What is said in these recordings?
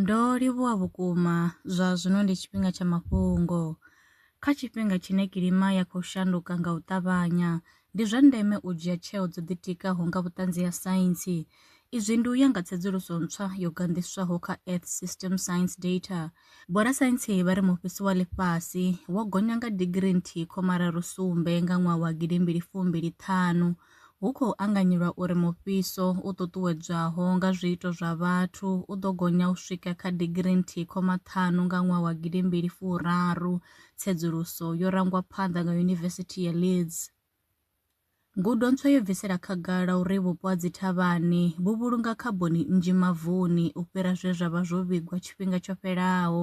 Ndo livhuwa vhukuma! Zwa zwino ndi tshifhinga tsha mafhungo. Kha tshifhinga tshine kilima ya khou shanduka nga u ṱavhanya, ndi zwa ndeme u dzhia tsheo dzo ḓitikaho nga vhuṱanzi ha saintsi. Izwi ndi u ya nga tsedzuluso ntswa yo ganḓiswaho kha Earth System Science Data. Vhorasaintsi vha ri mufhiso wa ḽifhasi wo gonya nga digirii nthihi khoma raru sumbe nga ṅwaha wa gidi mbili fumbili ṱhanu. Hu khou anganyelwa uri mufhiso u ṱuṱuwedzwaho nga zwiito zwa vhathu u ḓo gonya u swika kha digirii nthihi khoma ṱhanu nga ṅwaha wa gidi mbili furaru, tsedzuluso yo rangwa phanḓa nga Yunivesithi ya Leeds. Ngudo ntswa yo bvisela khagala uri vhupo ha dzithavhani vhu vhulunga khaboni nnzhi mavuni u fhira zwe zwa vha zwo vhigwa tshifhinga tsho fhelaho,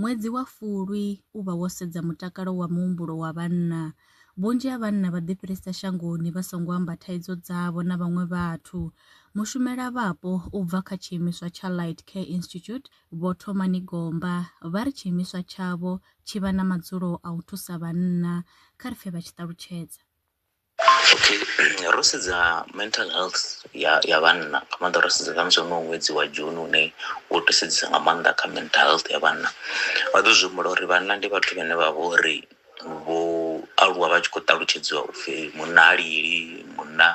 Ṅwedzi wa Fulwi u vha wo sedza mutakalo wa muhumbulo wa vhanna. Vhunzhi ha vhanna vha ḓifhirisa shangoni vha songo amba thaidzo dzavho na vhaṅwe vhathu. Mushumelavhapo u bva kha tshiimiswa tsha Light Care Institute, Vho Thomani Gomba, vha ri tshiimiswa tshavho tshi vha na madzulo a u thusa vhanna. Kha ri pfe vha tshi ṱalutshedza. Okay ro sedza mental health ya ya vhanna nga maanḓa ro sedza khamusi honoyu ṅwedzi wa June une wo to sedzesa nga maanḓa kha mental health ya vhanna vha ḓo zwi humbula uri vhanna ndi vhathu vhane vha vha uri vho aluwa vha tshi khou ṱalutshedziwa upfhi munna ha lili munna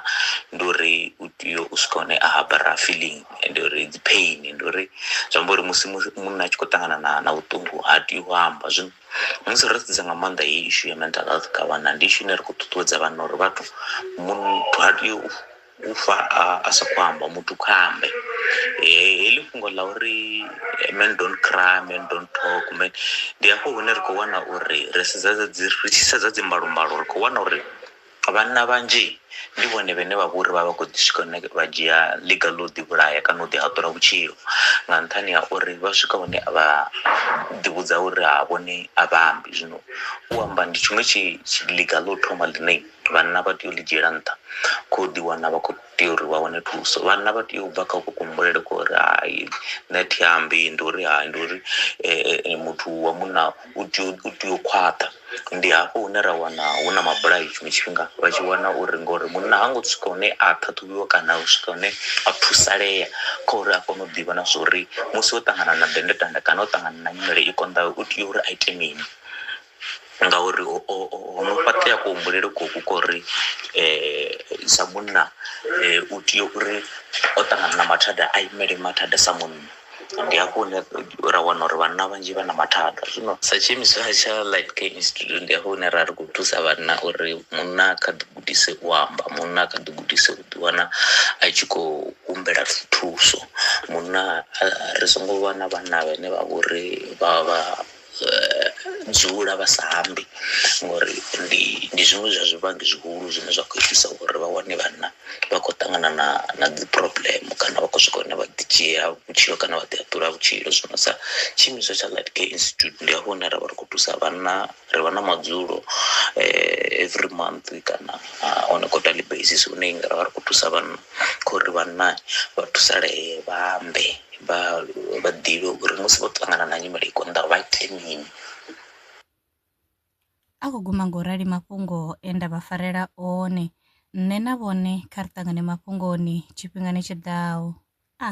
ndi uri u tea u swika hune a habara feeling ndi uri dzi pain ndi uri zwi amba uri musi munna a tshi khou ṱangana na na vhuṱungu ha tei u amba zwino Musi ro sedza nga maanḓa heyi ishu ya mental health kha vhana ndi ishu ine ri khou ṱuṱuwedza vhana uri vhathu muthu ha tei u fa a sa khou amba muthu kha ambe heḽi fhungo ḽa uri men don't cry men don't talk men ndi hafho hune ri khou wana uri ri sedza dzi ri tshi sedza dzi mbalombalo ri khou wana uri Vhanna vhanzhi ndi vhone vhane vha vha uri vha vha khou ḓi swika hune vha dzhia ḽiga ḽa u ḓi vhulaya kana u ḓi haṱula vhutshilo nga nṱhani ha uri vha swika hune a vha ḓi vhudza uri ha vhone a vha ambi zwino u amba ndi tshiṅwe tshi ḽiga ḽa u thoma ḽine vhanna vha tea u ḽi dzhiela nṱha kho ḓi wana vha khou tea uri vha wane thuso vhanna vha tea u bva kha uku kuhumbulele kwa uri hai nṋe thi ambi ndi uri hai ndi uri muthu wa munna u tea u tea u khwaṱha ndi hafho hune ra wana hu na mabulayo tshiṅwe tshifhinga vha tshi wana uri ngori munna ha ngo swika hune a ṱhaṱhuvhiwa kana u swika hune a thusalea kha uri a kone u ḓivha na zwa uri musi o ṱangana na dennde tanda kana o ṱangana na nyimele i konḓaho u tea uri a ite mini. ngauri ho ho ho no fhaṱea kuhumbulele koku ko ri sa munna u tea uri o ṱangana na mathada a imele mathada sa munna ndi hafho hune ra wana uri vhanna vhanzhi vha na mathada zwino sa tshiimiswa tsha light care institute ndi hafho hune ra ri khou thusa vhanna uri munna a kha ḓi gudise u amba munna a kha ḓi gudise u ḓi wana a tshi khou humbela thuso munna ri songo vha na vhanna vhane vha vhori vha vha dzula vha sa ambi ngori ndi ndi zwiṅwe zwa zwivhangi zwihulu zwine zwa khou itisa uri vha wane vhanna vha khou ṱangana na na dzi problem kana vha khou swika hune vha ḓi dzhia vhutshilo kana vha ḓi haṱula vhutshilo. Zwino sa tshiimiswa tsha light care institute ndi hafho hune ravha ri kho thusa vhanna ri vha na madzulo every month kana on a quarterly basis hune ra vha ri khou thusa vhanna. kha uri vhanna vha thusalee, vha ambe, vha vha ḓivhe uri musi vho ṱangana na nyimele i konḓaho vha ite mini. A khou guma ngo rali mafhungo e nda vha farela one. Nṋe na vhone kha ri ṱangane mafhungoni tshifhingani tshi ḓaho. A.